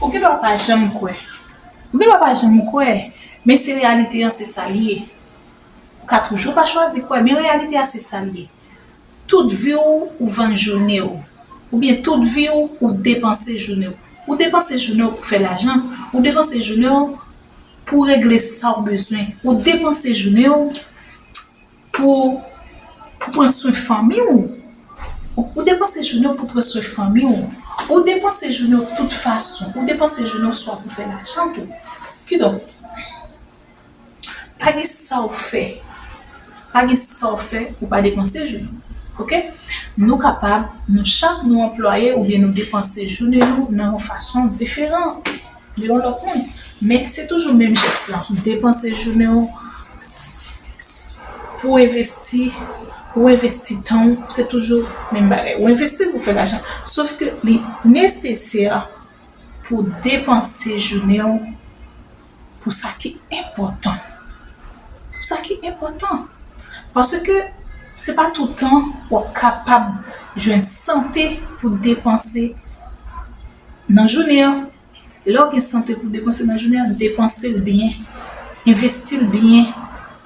Ou gen dwa pa janm kwè. Ou gen dwa pa janm kwè, men se reyalite an se sa l ye. Ou ka toujou pa chwazi kwè, men reyalite a se sa l ye. Tout vi w, ou vann jounen w. Oubyen tout vi w, ou depanse jounen w. Ou depanse jounen w pou fè lajan. Ou depanse jounen w pou regle sa w bezwen. Ou depanse jounen w. Pou pou pran swen fanmi w. Ou depanse jounen w pou pran swen fanmi w. Ou depanse jounen w de tout fason. Ou depanse jounen w swa pou fè lajan tou. Kidonk, pa gen sa w fè, pa gen sa w fè pou w pa depanse jounen w. Ok? Nou kapab, nou chak nou anplwaye oubyen nou depanse jounen nou nan yon fason diferan. De yon lòt moun. Men se toujou menm jès lan. Depanse jounen w pou w envesti, ou envesti tan w, se toujou menm bagay. Ou envesti pou w fè lajan. Sof ke li nesesè pou w depanse jounen w pou sa ki enpòtan. Pou sa ki enpòtan. Paske se pa toutan w ap kapab jwenn sante pou depanse. Nan jounen an, lè w gen sante pou depanse nan jounen an, depanse l byen, envesti l byen,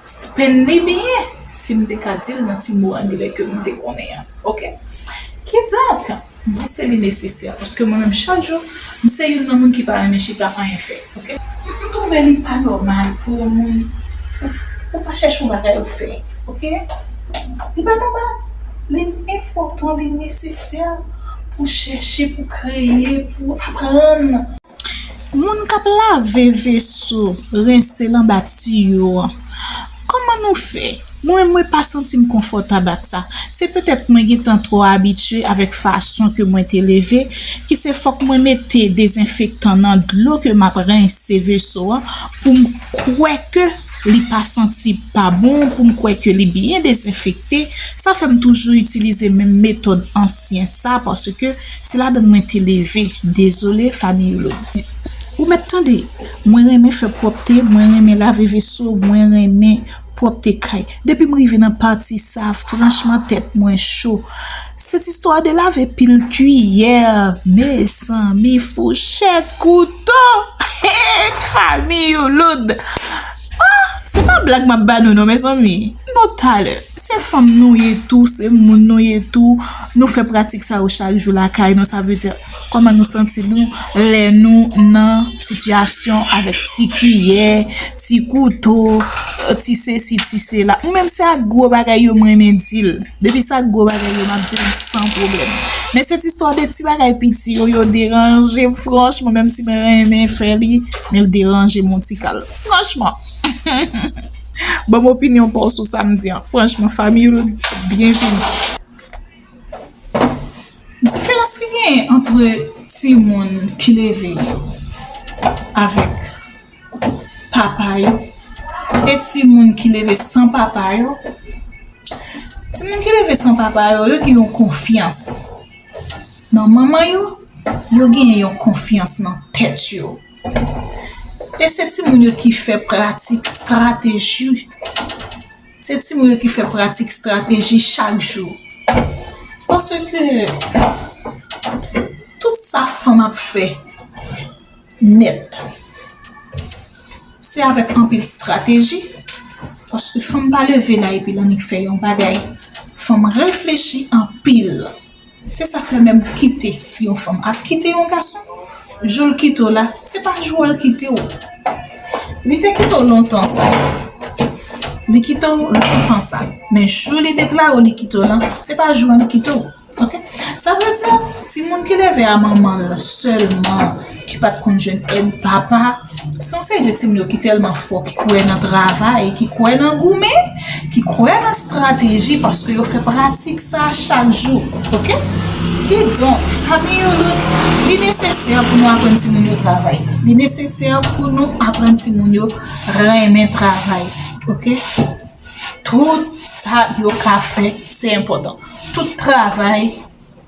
spenn li byen, si m te ka di l nan ti mo angle ke m te konnen an, ok. Kidonk, mwen panse li nesesè, paske mwen menm chak jou, m se youn nan moun ki pa renmen chita anyen fè. Ok m trouve li pa normal pou yon moun ou pa chèche yon bagay ou fè ok li pa normal li enpòtan li nesesè pou chèche pou kreye pou aprann. Moun kap lave veso rense l anba tiyo an. Kòman nou fè? Mwen mwen pa santim konfòtab ak sa. Se petèt mwen gentan twò abitye avèk fason ke mwen te leve, ki se fòk mwen mete dezenfektan nan dlo ke map rense veso an poum kwè ke li pa santi pa bon, poum kwè ke li byen dezenfekte, sa fèm toujou itilize menm metòd ansyen sa paske se ladann mwen te leve. Dezole Familloud. Ou mèt tande, Mwen renmen fè pwòpte, mwen renmen lave veso, mwen renmen pwòpte kay. Depi m rive nan pati sa a franchman tèt mwen cho. Cette histoire de laver pil kiyè, mezanmi fouchèt, kouto, hee fanmi youloud. Ah! Se pa blag m ap ba nou non mezanmi. Nou talè. Se fanm nou ye tou, se moun nou ye tou, nou fè pratik sa yo chak jou lakay nou sa vle di. Kòman nou santi nou lè nou nan sitiyasyon avèk ti kiyè, ti kouto, ti sesi, ti sela? Mwen menm se ak gwo bagay yo m renmen di l. Depi se ak gwo bagay yo m ap di l san pwoblèm. Men se ti istwa de ti bagay piti yo, yo deranje m franchman menm si mwen renmen fè li, men l deranje m yon ti kal. Franchman! Ban m opinyon pa w sou sa m di an. Franchman Famiyoul, byenvini! Diferans ki genyen antre timoun ki leve avèk papa yo e timoun ki leve san papa yo, timoun ki leve san papa yo, yo gen yon konfyans nan manman yo, yo gen yon konfyans nan tèt yo. E se timoun yo ki fè pratik, strateji. Se timoun yo ki fè pratik strateji chak jou. Paske tout sa fanm ap fè nèt, se avèk anpil strateji. Paske fanm pa leve la epi l annik fè yon bagay. Fanm reflechi anpil. Se sak fè menm kite yon fanm ap kite yon gason joul kitew la se pa jou al kitew li te kitew lontan sa li kitew lontan sa men jou li deklarew li kitew lan se pa jou an li kitew ok sa vle di timoun ki leve a manmanl sèlman. ki pat konn jwenn èd papa, se yon seri de timoun yo ki tèlman fò, ki kwè nan travay, ki kwè nan goumen, ki kwè nan strateji paske yo fè pratik sa chak jou, ok? Ki donk, fanmi yo yo, li nesesè pou nou aprann timoun yo travay, li nesesè pou nou aprann timoun yo renmen travay, ok? Tout sa yo ka fè, se enpòtan, tout travay.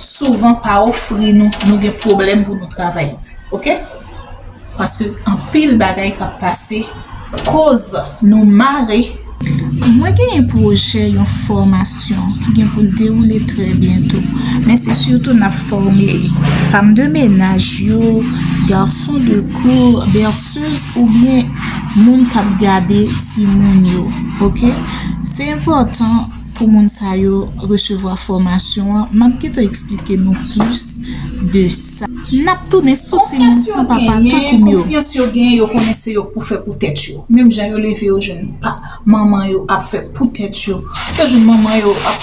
souvan pa ofri nou, nou gen pwoblèm pou nou travay. Ok? Paske anpil bagay kap pase koz nou mare. Mwen gen yon pwojè yon fòmasyon ki gen pou l dewoule trè byento. Men se sitou nap fòme fam de menaj yo, garçon de cour, berceuse oubyen moun kap gade timoun yo. Ok? Se enpòtan. Pou moun sa yo resevwa fòmasyon an, m ap gentan eksplike nou plis de sa. N ap tounen sou timoun san papa tankou m yo. Konfyans yo genyen, yo konnen se yo k pou fè pou tèt yo. Menm jan yo leve yo jwenn manman yo ap fè pou tèt yo. Yo jwenn manman yo ap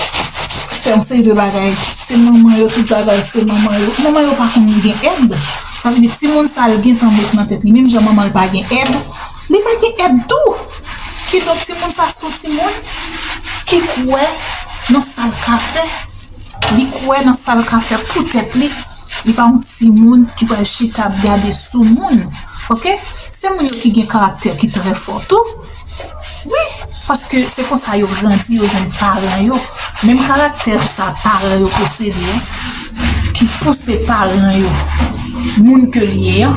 fè yon seri de bagay. Se manman yo tout bagay, se manman yo. Manman yo pa konn gen èd. Sa vle di timoun sa l gentan met nan tèt li menm jan manman l pa gen èd, li pa gen èd tou. Kidonk timoun sa son timoun ki kwè nan sa l ka fè, li kwè nan sa l ka fè pou tèt li, li pa yon timoun ki pral chita ap gade sou moun ok, se moun yo ki gen karaktè ki trè fò tou wi paske se konsa yo grandi yo jwenn paran yo menm karaktè sa paran yo posede. ki pouse paran yo moun ke li ye an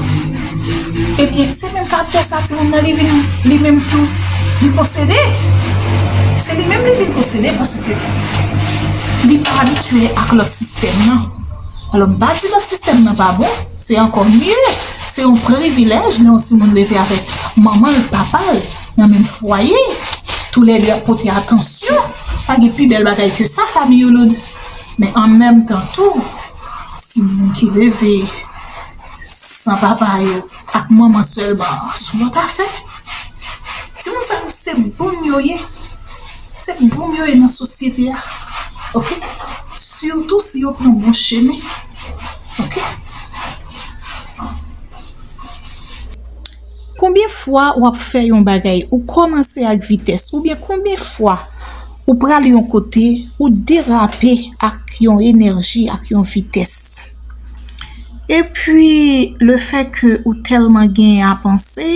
ebyen se menm karaktè sa timoun nan li vin li menm tou li posede se li menm li vin posede paske li pa abitye ak lòt sistèm nan alò m pa di lòt sistèm nan pa bon se ankò mye se yon privilèj lè yon timoun leve avèk manman l papa l nan menm fwaye tou lè 2 ap pote atansyon pa gen pi bèl bagay ke sa fanmi yo lòd Men an menm tan tou, timoun ki leve san papa yo ak manman sèlman an son lòt afè. Timoun sa yo se boum yo ye. Se boum yo ye nan sosyete a. Ok? Sitou si yo pran bon chemen. Ok? Konbyen fwa wap fè yon bagay, ou kòmanse ak vitès, oubyen konbyen fwa. Ou pral yon kote, ou derape ak yon enèji, ak yon vitès. E pwi, le fè ke ou tèlman gen a panse,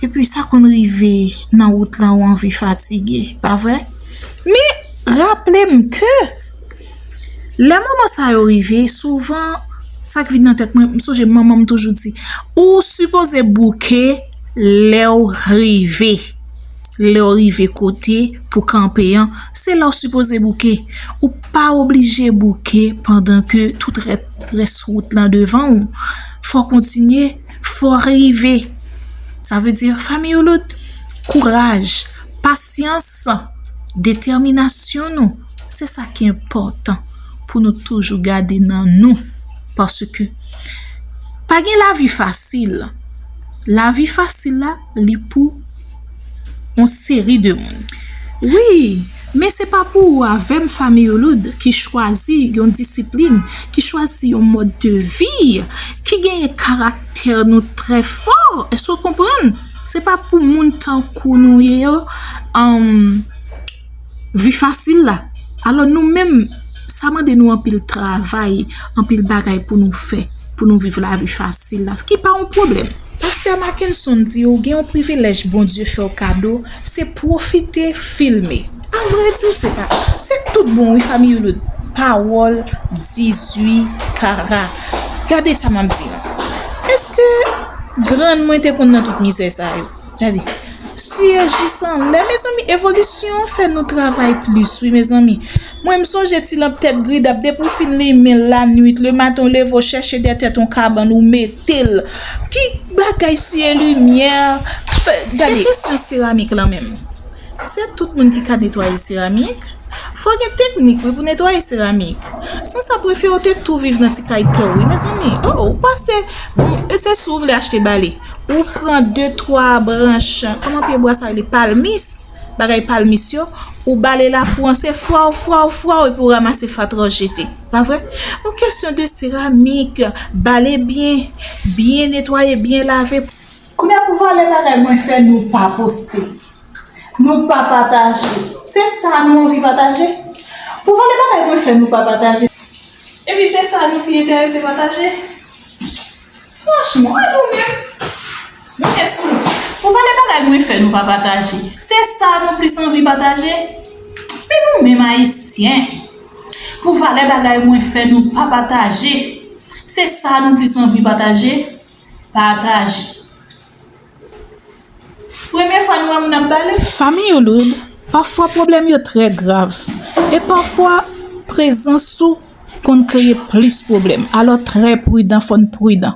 e pwi sa konn rive nan wout lan ou anvi fatige, pa vre? Men, raple m ke, lè moman sa yo rive, souvan, sa k vin nan tèt mwen, m sonje manman m toujou di, ou sipoze bouke lè ou rive. Lè w rive kote pou w kanpe an, se la w sipoze bouke. Ou pa oblije bouke pandan ke tout rès wout lan devan ou. Fò w kontinye, fò w rive. Sa vle di Famiyoulot, kouraj, pasyans, detèminasyon nou, se sa ki enpòtan pou nou toujou gade nan nou. Paske pa gen lavi fasil. Lavi fasil la. li pou on seri de moun. Wi, men se pa pou ou avè m Fanmi Uloud ki chwazi yon disiplin, ki chwazi yon mòd de vi, ki genyen karaktè nou trè fò, èske w konprann? Se pa pou moun tankou nou ye yo, vi fasil la. Alò nou menm, sa mande nou anpil travay, anpil bagay pou nou fè, pou nou viv la vi fasil la. Ki pa yon pwoblèm. Pastè Mackenson di ou gen yon privilèj Bondye fè ou kado, se pwofite filme. A vrè di, se pa, se tout bon wi fanmi Youloud. Pawòl 18 kara. Gade sa m ap di nou. Eske grann mwen te konn nan tout mizè sa yo? Gade. Suyejisan lè mezanmi evolisyon an fè nou travay plis wi mezanmi. Mwen m sonje ti lanp tèt gridap depi w fin limen l lannuit lematn w leve w chèche dèyè tèt on kabann ou mete l pi bagay siye limyè gade. E kesyon seramik lan menm? Se tout moun ki ka netwaye seramik? Fò gen teknik wi pou netwaye seramik. San sa prefe ou te tou viv nan ti kay tè w wi mezanmi. Oh ou pase bon e se si w vle achte bale. Ou pran de twa branch kòman pye bwa sa rele palmis bagay palmis yo ou bale lakou an se fwaw fwaw fwaw epi ou ramase fatra w jete. Pa vre? Bon kesyon de seramik bale byen byen netwaye byen lave. Kounya pou valè bagay mwen fè nou pa poste, nou pa pataje, se sa nou anvi pataje? Pou valè bagay mwen fè nou pa pataje, epi se sa nou pi enterese pataje? Franchman, e nou menm? Nou gen sou nou. Pou valè bagay mwen fè nou pa pataje, se sa nou plis anvi pataje? E nou menm Ayisyen? Pou valè bagay mwen fè nou pa pataje, se sa nou plis anvi pataje? Pataje. Premye fwa nou wè moun ap bale? Fanmi Youloud, pafwa pwoblèm yo trè grav, e pafwa prezans ou konn kreye plis pwoblèm, alò trè pridan, fò n pridan.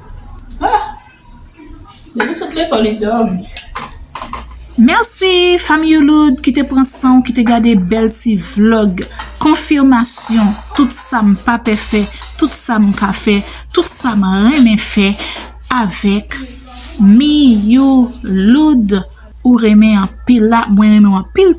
Merci fanm youloud ki te pran san ou ki te gade bèl ti vlog konfirmasyon tout sa m pa pe fè tout sa m ka fè tout sa m renmen fè avèk miyouloud ou renmen anpil la mwen renmen anpil.